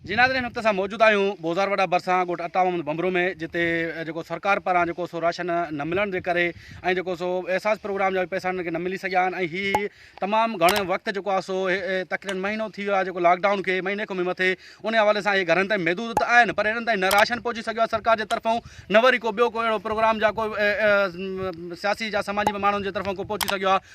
جي ناظرين هن وقت اسان موجود آهيون بوزار وڏا ڀرسان ڳوٺ عطا محمد ڀنڀرو ۾ جتي جيڪو سرڪار پاران جيڪو سو راشن نه ملڻ جي ڪري ۽ جيڪو سو احساس پروگرام جا پيسا انهن کي نه ملي سگهيا آهن ۽ هي تمام گهڻو وقت جيڪو آهي سو تقريبن مهينو ٿي ويو آهي جيڪو لاڪ ڊائون کي مهيني کان به مٿي ان حوالي سان هي گهرن تائين محدود ته آهن پر انهن تائين نه راشن پهچي سگهيو آهي سرڪار جي طرفون نه وري ڪو ٻيو ڪو اهڙو پروگرام جا ڪو سياسي جا سماجي ماڻهن جي طرفون ڪو پهچي سگهيو آهي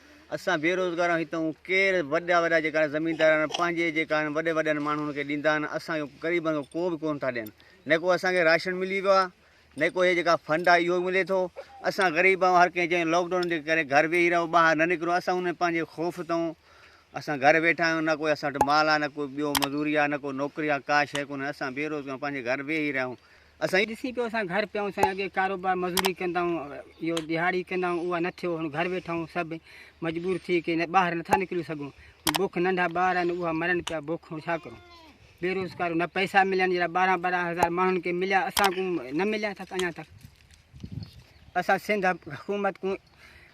اسان بي روزگار آهيون هتي هون ڪير وڏا وڏا جيڪا زميندار آهن پنهنجي جيڪا آهن وڏي وڏن ماڻهن کي ڏيندا آهن اسان کي غريبن کي ڪو به ڪو نه ٿا ڏين نه ڪو اسان کي راشن ملي ويو آهي نه ڪو هي جيڪا فنڊ آهي اهو ملي ٿو اسان غريب آهيون هر ڪنهن جي لاڪ ڊائون جي ڪري گهر ويهي رهو ٻاهر نه نڪرو اسان ان پنهنجي خوف تون اسان گهر ويٺا آهيون نه ڪو اسان وٽ مال آهي نه ڪو ٻيو مزوري آهي نه ڪو نوڪري آهي ڪا شيء ڪونهي اسان بي روزگار پنهنجي گهر ويهي رهيا آهيون اسان ڏسي پيو اسان گهر پيا آهيون سائين اڳي ڪاروبار مزوري ڪندا آهيون اهو ڏهاڙي ڪندا آهيون اها نه ٿيو هاڻي گهر ويٺا آهيون سڀ مجبور ٿي ڪي نه ٻاهر نٿا نڪري سگهون بک ننڍا ٻار آهن اها مرن پيا بک هاڻي ڇا ڪرون بيروزگار نه پئسا ملن جهڙا ٻارهن ٻارهن هزار ماڻهن کي مليا اسان ڪون نه مليا اٿا اڃا تڪ اسان سنڌ حڪومت ڪون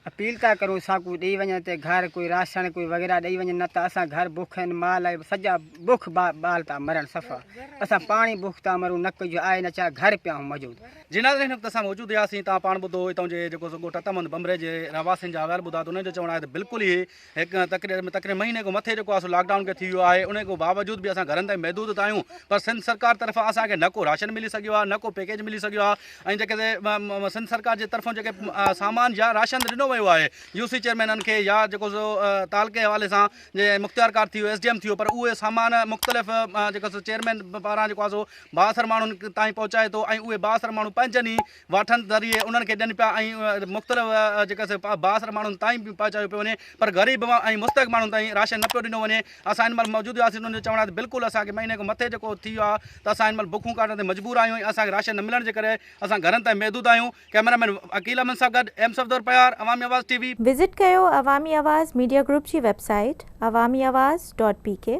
اپيل ٿا ڪريون ساڪو ڏئي وڃن تي گهر ڪوئي راشڻ ڪوئي وغيره ڏئي وڃن نه ته اسان گهر بکين مال ۽ سڄا بک بال ٿا مرن صفا اسان پاڻ ئي بک ٿا مرون نه ڪجهه آهي نه ڇا گهر پيا هون موجود. جي ناظرين هن وقت اسان موجود هياسين تان پاڻ ٻڌو هتان جي جيڪو سو ڳوٺ اتم هند بنبري جي رهواسين جا احوال ٻڌا ته انهن جو چوڻ آهي ته بلڪل ئي هڪ تقرير تقرير مهيني کان مٿي جيڪو آسو لاڪ ڊائون کي ٿي ويو آهي ان کان باوجود به اسان گهرن تائين محدود ته آهيون پر سنڌ سرڪار طرفان اسان کي نه ڪو راشن ملي سگهيو آهي نه ڪو پيڪيج ملي سگهيو آهي ۽ جيڪي سنڌ سرڪار جي طرفان جيڪي سامان يا راشن ڏنو ويو آهي يو سي چيئرمينن کي يا جيڪو سو تعلقي حوالي سان جي مختيارڪار ٿي ويو ايس ڊي ايم ٿي ويو پر اهي سامان مختلف جيڪو سو چيئرمين پاران جيڪو آسو بااثر ماڻهن تائين پهچائي ٿو ۽ اهي بااثر ماڻهو پنهنجن ئي واٺن ذريعي انهن کي ڏين پيا ۽ مختلف جيڪا سي بااثر ماڻهن تائين به پهچايو پيو وڃي پر غريب ۽ مستحق ماڻهن تائين راشن نه پيو ڏنو وڃي اسان هن مهل موجود هئاسين انهن جو چوڻ آهي ته بلڪل اسان کي مهيني کان مٿي جيڪو ٿي ويو آهي ته اسان هن مهل بکون ڪاٽڻ تي مجبور آهيون ۽ اسان کي راشن نه ملڻ جي ڪري اسان گهرن تائين محدود آهيون ڪئميرا مين عقيل احمد سان گڏ ايم صفدر پهار Awami Awaz T V. Visit ڪيو عوامي آواز ميڊيا گروپ جي website Awami Awaz dot P ڪي.